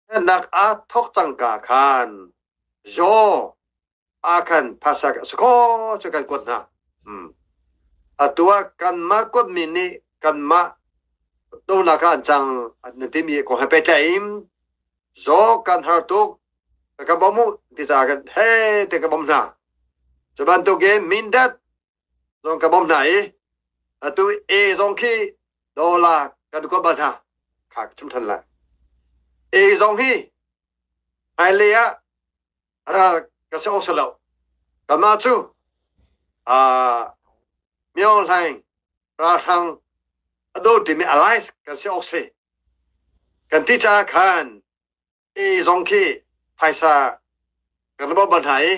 Nannak ah thawk cangka khan zaw ah khan phasak a si kaw cu kan kuat hna. Atu ah kanmah kuatmi nih kanmah donak ah an cang na timi ko he pehtlaim zaw kan har tuk ka bawm u ti caah khan hei ti ka bawm hna. Cu bantukin Mindat Zong ka bawmh hna i atu A zong khi dollar kan kuat bal hna. Kha ka chim ṭhan lai. A zong hi hmailei ah ral ka si awk si lo. Kanmah cu aa Myo Hlaing ralhrang a do timi alliance kan si awk si kan ti caah khan i zong khi phaisa kan lomh bal hna i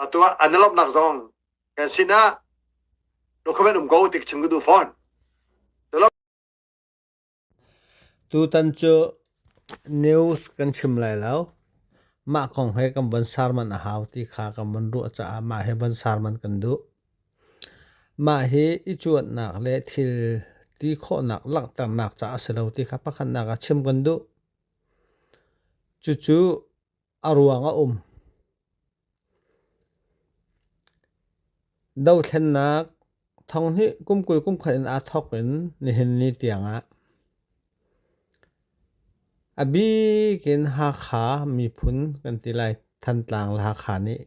atu ah an lomhnak zong kan sinah document um ko ti chim ka duh fawn tutan cu news kan chim lai lo mah kong he kan von sar man a hau ti kha kan von ruah caah mah he von sar man kan duh mah hi i cuannak le thil ti khawhnak langhternak caah si lo ti kha pakhatnak ah chim kan duh Cucu a ruang a um. Dohthlennak thonghnih kum kul kum khat in aa thawk in nihin ni tiangah a bik in Hakha miphun kan ti lai, Thantlang, Hakha nih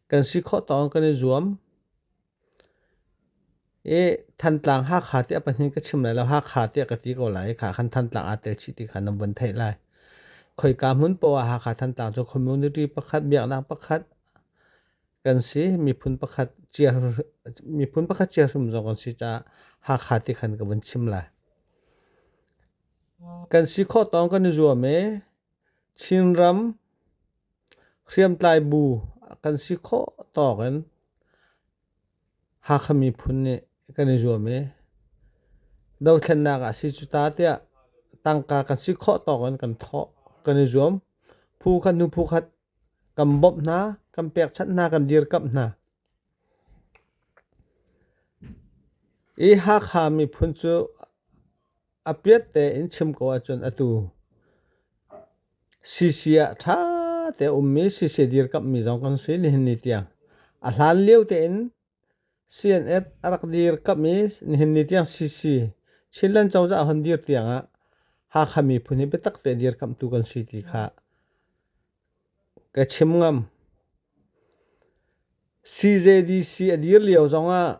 kan si khawh tawng kan i zuam. I Thantlang Hakha tiah pahnih ka chim lai lo Hakha tiah ka ti ko lai i kha khan Thantlang aa tel chih ti kha na vun theih lai. Khoika hmun poah Hakha Thantlang cu community pakhat biaknak pakhat kan si miphun pakhat cia miphun pakhat cia hrim zong kan si caah Hakha ti khan ka vun chim lai. Kan si khawh tawng kan i zuam i Chinram hriamtlai bu kan si khawh tawk in Hakha miphun nih kan i zuam i dothlennak ah si cu ta tiah tangka kan si khawh tawk in kan thawh kan i zuam. Phu khat hnu phu khat kan bawmh hna, kan pekchanh hna, kan dirkamh hna. I Hakha miphun cu A piat tein chim ko ahcun atu CC ah ṭha te ummi CC dirkamhmi zong kan si nihin ni tiang. A hlan lio tein CNF a rak dirkamh i nihin ni tiang CC Chinland cozah hon dir tiang ah Hakha miphun hi biatak te dirkamhtu kan si ti kha ka chim ngam. CJDC a dir lio zong ah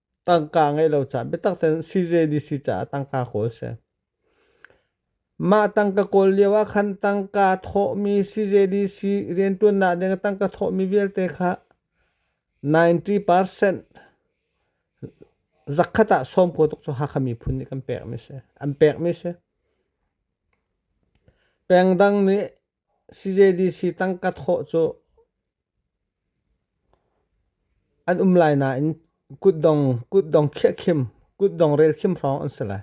tangka ngeih lo caah biatak ten CJDC caah tangka kawl si. Mah tangka kawl lio ah khan tangka thawhmi CJDC riantuannak ding tangka thawhmi vialte kha 90% zakkhat ah sawm ko tuk cu hakha miphun nih kan pekmi si. An pekmi si. Pengdang nih CJDC tangka thawh cu an um lai nain kutdong kutdong khiahkhim kutdong relkhim hrawng an si lai.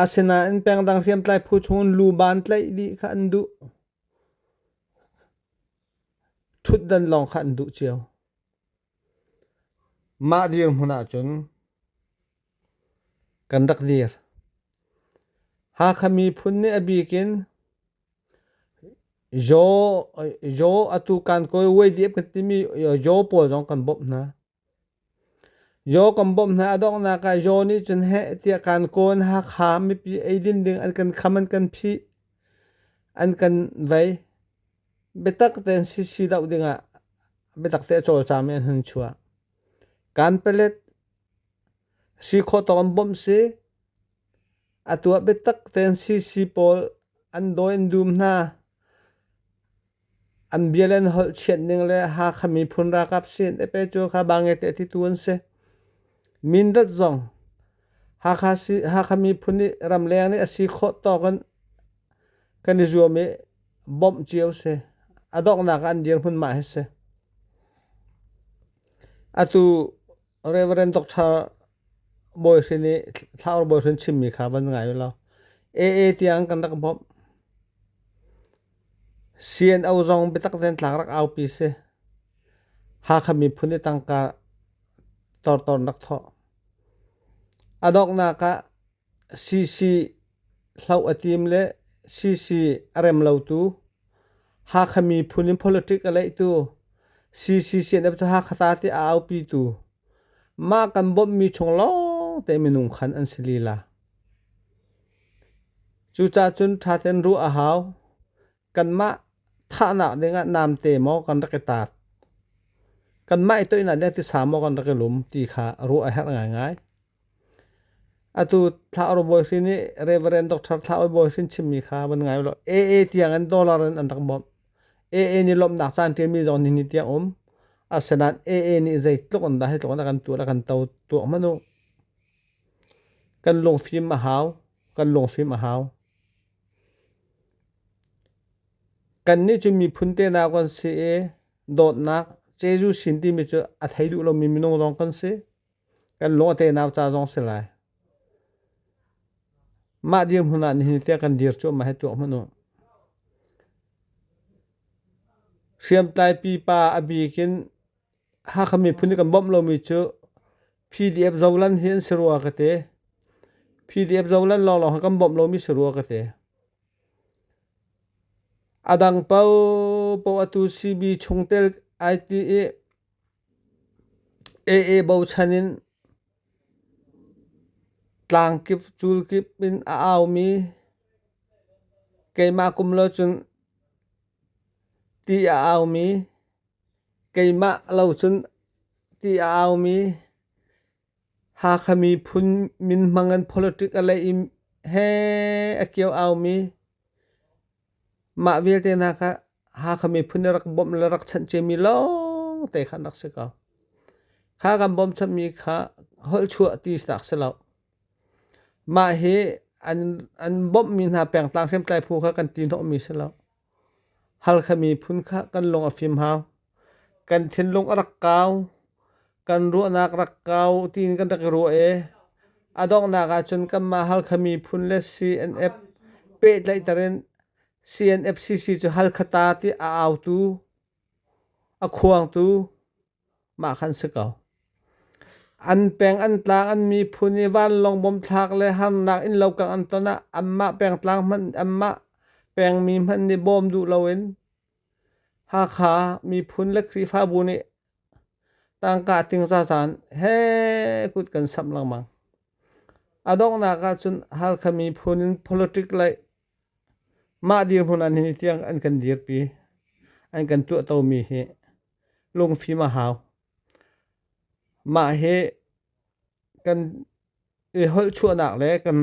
Asinain pengdang hriamtlai phu chungin luban tlaih dih kha an duh. Thutdan lawng kha an duh cio. Mah dirhmun ahcun kan rak dir. Hakha miphun nih a bik in Yaw, Yaw atu kan kawi Wei Diep kan timi Yaw pawl zong kan bawmh hna. Yaw kan bawmh hna a donghnak ah Yaw nih cun heh tiah kan kawi in Hakha mipi eidin ding an kan kham an kan phih. An kan vei. Biatak tein sisi doh dingah biatak te a cawlcam i an hun chuah. Kan palet Si khawh tawk an bawmh si. A tuah biatak tein sisi pawl an daw in dum hna. An bia le an holh chiat ning le Hakha miphun rakap sin epe cu kha bangete ti tu an si. Mindat zong Hakha si Hakha miphun nih ramleng nih a si khawh tawk in kan i zuam i bawmh cio si. A donghnak an dir hmun mah hi si. Atu Reverend Doctor Bawi Hrin nih Thlaur Bawi Hrin chimmi kha van ngai u law AA tiang kan rak bawmh. CNO zong biatak ten tlak rak aupi si. Hakha miphun i tangka tortor rak thawh. Adoknak ah CC hloh a tim le CC a rem lotu Hakha miphun in politic a leihtu CC CNF cu Hakha ta ti a aupitu mah kan bawmhmi chung lawngte minung khan an si lila. Cucacun ṭhaten ruah a hau. kanmah thahnak dingah namte maw kan rak i tat kanmah i toihnak ding tisa maw kan rak i lum ti kha ruah a herh ngaingai atu thlaor bawi hrin i reverend doctor thlaoi bawi hrin chimmi kha van ngai lo AA tiang in dollar in an rak bawmh AA nih lawmnak caan ṭiami zong ni ni tiang um asenan AA nih zei tluk an dah hi tluk an kan tuah kan to tuah manu kan lungfim a hau kan lungfim a hau Kannih cu miphun tenau kan si i dawtnak Jesuh sin timi cu a thei duh lomi minung zong kan si. Kan lung a tenau ca zong si lai. Mah dir hmun ah nihin tiah kan dir cuahmah hi tuah hmanh u. Hriamtlai pipa a bik in Hakha miphun i kan bawmh lomi cu PDF zolan hi an si rua ka ti. PDF zolan lawnglawng kan bawmh lomi si rua ka ti. A dang paoh paoh atu CB chungtel ai ti i AA bochan in tlang kip cul kip in a aumi keimah kum lo cun ti a aumi Keimah lo cun ti a aumi Hakha miphun minhmang in politic a lei i he a kio aumi mah vialte hna kha Hakha miphun nih rak bawmh le rak chanh ciami lawngte kha an rak si ko. Kha kan bawmchanmi kha holh chuah ti sinak si lo. Mah hi an bawmhmi hna pengtlang hriamtlai phu kha kan ti hnawhmi si lo. Halkha miphun kha kan lung a fim hau. Kan thinlung a rak kau. Kan ruahnak rak kau tiin kan rak i ruah i a donghnak ahcun kanmah Halkha miphun le CNF pehtlaihter in CNFCC cu Halkha ta ti a autu, a khuangtu. Mah kan si ko. An peng an tlang an miphun i vanlawng bomthlak le harnak in lokak an ton ah anmah pengtlang hmanh anmah pengmi hmanh nih bawm duh loin Hakha miphun le Khrihfabu nih tangka ting zazan he kut kan samh lengmang. A donghnak ah cun Halkha miphun in politic lei mah dirhmun an hi tiang an kan dirpi an kan tuahtomi hi lungfim a hau. Mah hi kan i holhchuahnak le kan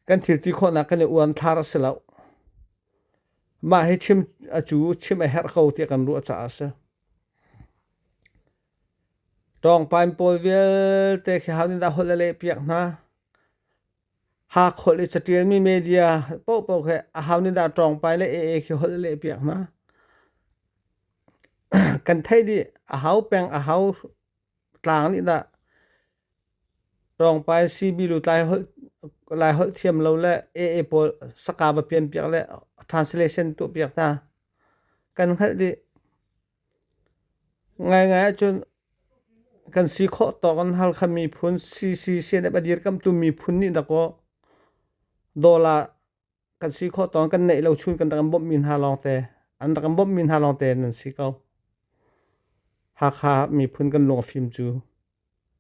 kan thilti khawhnak kan i uan thar a si lo. Mah hi chim a cu chim a herh ko tiah kan ruah caah a si. Tawngpain pawl vialte khi haunin a holh a leh piak hna. ha kholh i catialmi media pohpoh khi a hau nih dah tlawngpai le AA khi holh a leh piak hna. Kan theih dih a hau peng a hau tlang nih dah tlawngpai CB lu tlai holh lai holh thiam lo le AA pawl saka va pian piak le translation tuah piak hna. Kan hngalh dih. Ngaingai ahcun kan si khawh tawk in Halkha miphun CCCNF a dirkamhtu miphun nih dakaw dollar kan si khawh tawk in kan neih lo chun kan rak in bawmhmi hna lawngte an rak in bawmhmi hna lawngte nan si ko. Hakha miphun kan lungfim cu.